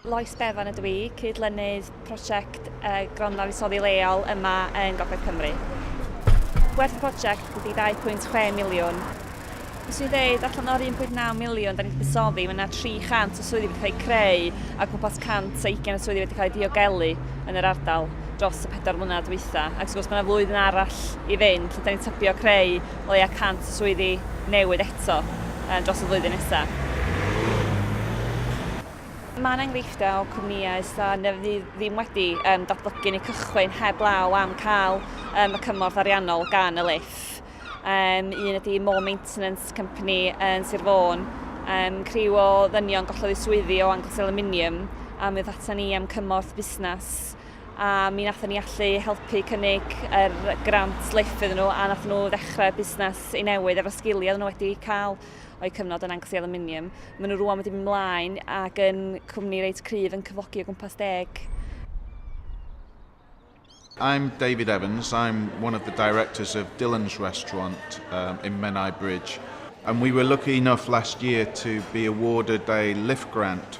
Lois Bevan ydw i, cydlynydd prosiect Gronfa Fuddsoddi Leol yma yn Gogledd Cymru. Gwerth y prosiect ydy 2.6 miliwn. Fes i'n dweud, allan o'r 1.9 miliwn da ni wedi buddsoddi, mae yna 300 o swyddi wedi cael eu creu a gwmpas 120 o swyddi wedi cael eu diogelu yn yr ardal dros y pedwar mlynedd dwytha. Ac wrth gwrs mae yna flwyddyn arall i fynd lle da ni'n tybio creu o leia 100 o swyddi newydd eto dros y flwyddyn nesaf. Mae'n enghreifftiau o cwmnïau sydd neu fydd ddim wedi um, datblygu neu cychwyn heb law am cael um, y cymorth ariannol gan y LIF. Um, un ydy More Maintenance Company yn Sir Fôn. Um, criw o ddynion gollodd eu swyddi o Angles Aluminium a mi oedd atan ni am cymorth busnes a mi nathon ni allu helpu cynnig yr grant LIF iddyn nhw a nathon nhw ddechrau busnes i newydd efo sgiliau nhw wedi cael o'u cyfnod yn Anglesey Aluminium. Maen nhw rwan wedi mynd mlaen ac yn cwmni reit cryf yn cyflogi o gwmpas deg I'm David Evans. I'm one of the directors of Dylan's Restaurant um, in Menai Bridge. And we were lucky enough last year to be awarded a LIFT grant